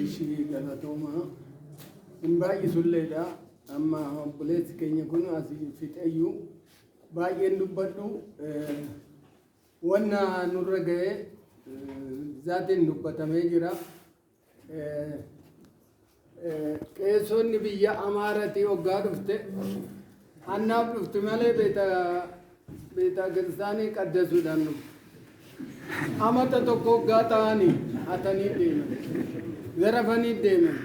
ishii galatoomaa hin baay'isulleedha amma obboleessi keenya kun asii fixeyyuu baay'een dubbadhu wanna nurra ga'e zaatiin dubbatamee jira Qeesonni biyya Amaaratii hoggaa dhufte hannaaf dhufti malee beeta kiristaanii qaddasuudhaan dhufte. Amata tokko hoggaa ta'anii hatanii deeman. Zarafanii deeman.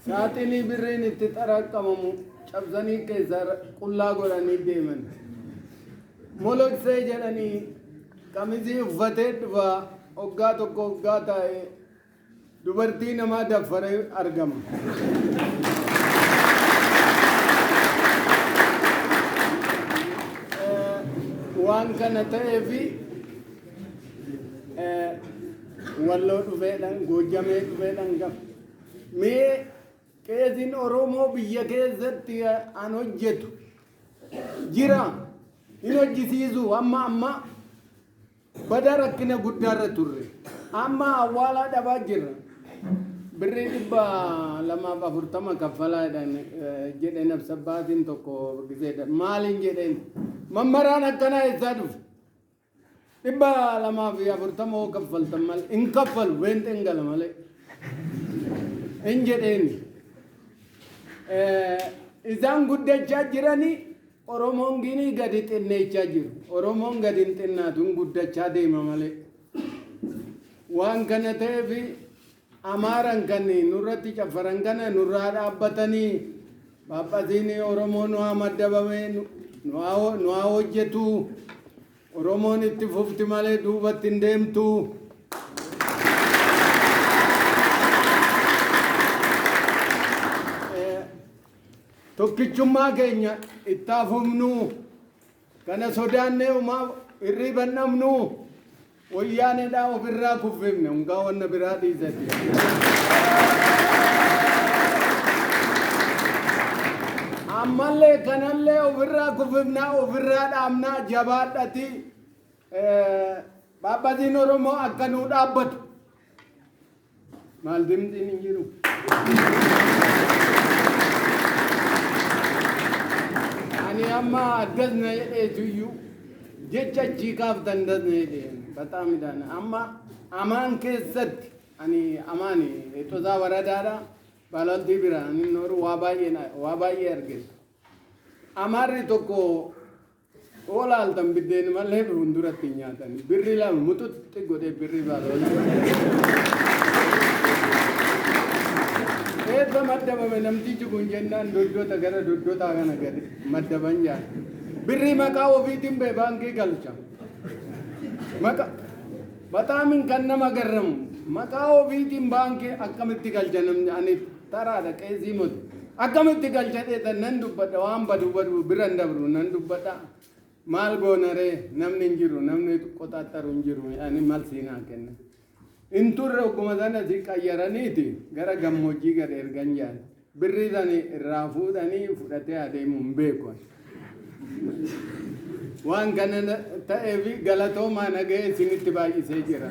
Saaxinii birriin itti xaraqqamamu cabsanii keessaa qullaa godhanii deeman. Moloksee jedhanii qamisii uffatee dhufa oggaa tokko oggaa taa'e dubartii namaa daffare argama. Waan kana ta'eefi walloo dhufeedhaan goojjamee dhufeedhaan gaf. Mee qeesiin Oromoo biyya keessatti an hojjetu jira hin hojjisiisu amma amma bada rakkina guddaarra turre amma awwaalaa dhabaa jirra birrii dhibba lamaaf afurtama kaffalaa jedhan eh, jedhe nabsa baasiin tokko giseedha maaliin jedheen mammaraan akkanaa eessaa dhufe 240 hoo kaffaltan malee hin kaffalu beenxeen gala malee hin jedheen isaan guddachaa jiranii oromoon ginii gadi xinneechaa jiru oromoon gadi hin xinnaatu hin guddachaa deema malee waan kana ta'eef Amaaran kan nurratti caffaran kana nurraa dhaabbatanii Phaaphatiin Oromoo nu haa maddabame nu haa hojjetu Oromoon itti fufti malee duubatti hin deemtu. Tokkichummaa keenya itti haa fufnu Kana sodaannee umaa irriiba hin dhabnu. Woyyaaneedhaa of irraa kuffifne unkaa wanna biraa dhiisati. Ammallee kanallee of irraa kuffifnaa of irraa dhaabnaa jabaadhati Phaaphaziin Oromoo akka nuu dhaabbatu. Maal dimdiin hin jiru. Ani amma addas na jedheetu iyyuu jecha achii kaaftan das na jedheen baxaa midhaan amma amaan keessatti ani amaan eexosaa waradaadha baalantii biraan inni nooru waa baay'ee na- waa baay'ee argeessa. Amaarri tokko Hoo laaltan biddeen malee fuulduratti hin nyaatan. Birri lama muxuxxi godhee birri baaloon. Eebba maddabame namtichi kun jennaan doddota gara doddotaa kana gadi maddaban jaala. Birri maqaa ofiitiin bee baankii galcha. Maqa bataamin kan nama garramu maqaa ofiitiin baankii akkamitti galcha namni aniif Taraadha qeesii moti. Akkamitti galcha dheetan nan dubbadha waan badu badu bira hin dabru nan dubbadha. Maal goona ree namni hin jiru namni qoxaaxaru hin jiru ani mal siin haa kenna. Hin turre ogguma sana si qayyaraniiti gara gammoojjii gad ergan jaan. Birrii sani irraa fuudhanii fudhatee adeemu hin beeku. Waan kana na- ta'eef galatoomaa nagahee isinitti baay'isee jira.